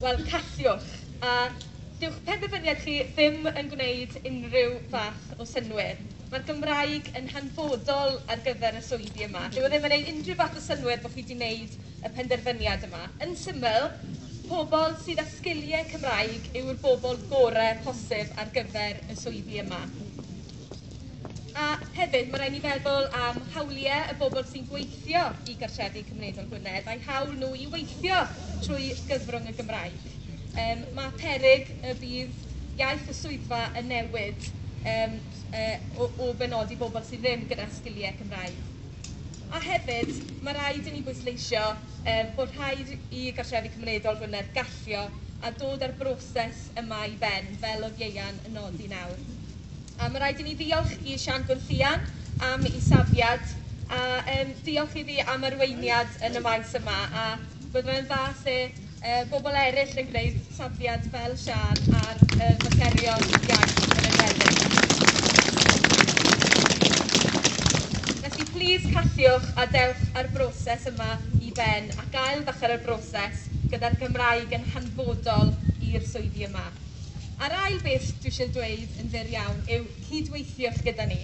Wel, callwch. A dyw'ch penderfyniad chi ddim yn gwneud unrhyw fath o synnwyr. Mae'r Gymraeg yn hanfodol ar gyfer y swyddi yma. Dyw e ddim yn ei unrhyw fath o synnwyr bod chi wedi wneud y penderfyniad yma. Yn syml, pobl sydd â sgiliau Cymraeg yw'r bobl gorau posib ar gyfer y swyddi yma. A hefyd, ma' raid ni feddwl am hawlie y bobl sy'n gweithio i gartrefi cymunedol Gwynedd, a'u hawl nhw i weithio trwy gyfrwng y Gymraeg. Yym ma' peryg y bydd iaith y swyddfa yn newid yym yy o o benodi bobl sydd ddim gyda sgilie Cymraeg. A hefyd, ma' raid i ni bwysleisio yym bod rhaid i gartrefi cymunedol Gwynedd gallio a dod â'r broses yma i ben, fel oedd Ieuan yn nodi nawr. A ma' raid i ni ddiolch i Siân Gwenllian am 'i safiad, a yym diolch iddi am arweiniad yn y maes yma, a bydde fe'n dda 'se yy bobl eryll yn gwneud safiad fel Siân ar yy materion iaith yn enwedig. Felly plîs cafiwch a dewch â'r broses yma i ben, ac ail-ddechrau'r broses gyda'r Gymraeg yn hanfodol i'r swyddi yma. A'r ail beth dwi eisiau dweud yn fyr iawn yw cydweithiwch gyda ni.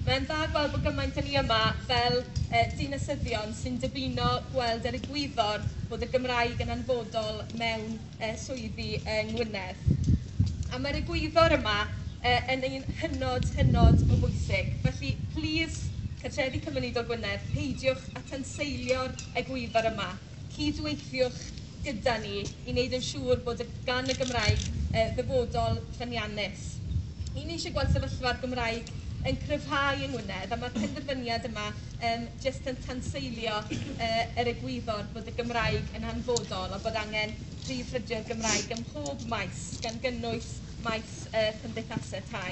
Mae'n dda gweld bod gymaint â ni yma fel yy dinasyddion sy'n dymuno gweld yr egwyddor bod y Gymraeg yn hanfodol mewn yy swyddi yng Ngwynedd. A mae'r egwyddor yma yy yn un hynod, hynod o bwysig. Felly, plis, Cartrefi Cymunedol Gwynedd, peidiwch â tanseilio'r egwyddor yma. cyd-weithiwch gyda ni i wneud yn siŵr bod y... gan y Gymraeg yy ddyfodol ffyniannus. Y' ni eisiau gweld sefyllfa'r Gymraeg yn cryfhau yng Ngwynedd a ma'r penderfyniad yma yym jyst yn tanseilio yy yr egwyddor bod y Gymraeg yn hanfodol a bod angen prif ffrydio'r Gymraeg ym mhob maes, gan gynnwys maes yy cymdeithasau tai.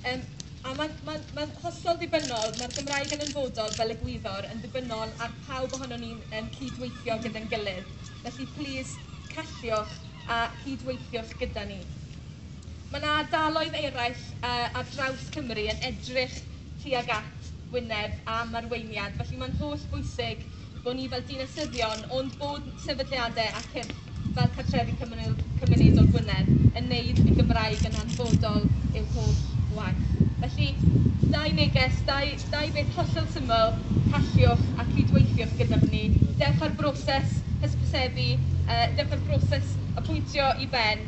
Yym a ma'n ma'n ma'n hollol ddibynnol, ma'r Gymraeg yn anfodol fel egwyddor, yn ddibynnol ar pawb ohonon ni'n yym cydweithio gyda'n gilydd, felly plîs calliwch a chydweithiwch gyda ni. Ma' 'na ardaloedd eraill yy ar draws Cymru yn edrych tuag at wyneb am arweiniad, felly ma'n hollbwysig bod ni fel dinasyddion ond bod sefydliadau a cyrff fel Cartrefi Cymru- Cymunedol Gwynedd yn wneud y Gymraeg yn hanfodol i'w holl waith. Felly, dau neges, dau dau beth hollol syml, calliwch a cydweithiwch gyda ni. Dewch â'r broses hysbysebu, yy dewch â'r broses apwyntio i ben.